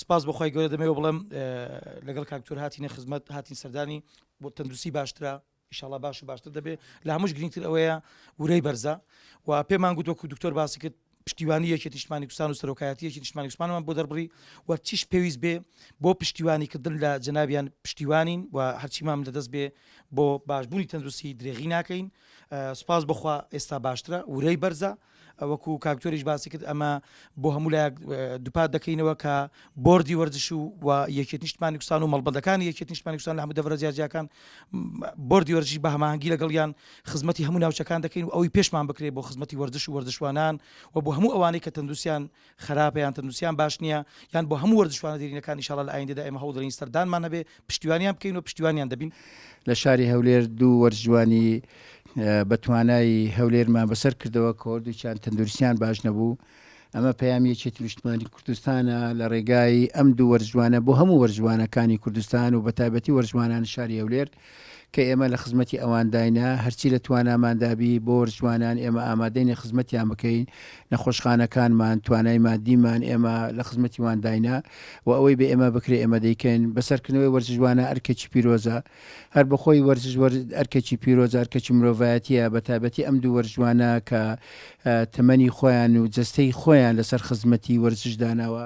سپاس بەخوای گەورە دەمەوە بڵێم لەگەڵ کاکتۆر هاتینە خزمەت هاتین سەردانی بۆ تەندروستی باشترە ئیشاڵا باش و باشتر دەبێت لە هەموش گرنگتر ئەوەیە ورەی بەرزە و پێمان گوتۆک و دکتۆر باسی کرد پشتیوانی یەکی نیشتمانی کوردستان و سەرۆکایەتی یەکی نیشتمانی کوردستانمان بۆ دەربڕی و چیش پێویست بێ بۆ پشتیوانی کردن لە جنابیان پشتیوانین و هەرچیمان لەدەست بێ بۆ باشبوونی تەندروستی درێغی ناکەین سپاس بخوا ئێستا باشترە ورەی بەرزە وەکو کاک جۆریش باسی کرد ئەمە بۆ هەموو لایەک دووپات دەکەینەوە کە بۆردی وەرزش و و یەکێت نیشتمانی کوردستان و مەڵبەندەکانی یەکێت نیشتمانی کوردستان لە هەموو دەڤەرە جیاجیاکان بۆردی وەرزشی بە هەماهەنگی لەگەڵیان خزمەتی هەموو ناوچەکان دەکەین و ئەوی پێشمان بکرێت بۆ خزمەتی وەرزش و وەرزشوانان و بۆ هەموو ئەوانەی کە تەندروستیان خراپە یان تەندروستیان باش نییە یان بۆ هەموو وەرزشوانە دێرینەکان ئینشاڵا لە ئایندەدا ئێمە هەوڵدەدەین سەردانمان هەبێ پشتیوانیان بکەین و پشتیوانیان دەبین. لە شاری هەولێر دوو وەرزشوانی بەتوانای هەولێرمان بەسەر کردەوە کە هەردووکیان تەندروستیان باش نەبوو، ئەمە پەیامی یەکێتی نیشتمانی کوردستانە لە رێگای ئەم دوو وەرزشوانە بۆ هەموو وەرزشوانەکانی کوردستان و بەتایبەتی وەرزشوانانی شاری هەولێر. کە ئێمە لە خزمەتی ئەوانداینە هەرچی لە تواناماندا بی بۆر جوانان ئێمە ئامادەینە خزمەتیان بکەین نەخۆشخانەکانمان توانای مادیمان ئێمە لە خزمەتی وانداینە و ئەوەی بە ئێمە بکرێ ئێمە دەیکەین بەسەرکردنەوەی وەرزشوانە ئەرکێکی پیرۆزە هەر بەخۆی وەرزش ئەرکێکی پیرۆز ئەرکەکی مرۆڤایەتە بە تایبەتی ئەم دوو وەرزوانە کە تەمەنی خۆیان و جستەی خۆیان لەسەر خزمەتی وەرزش داناوە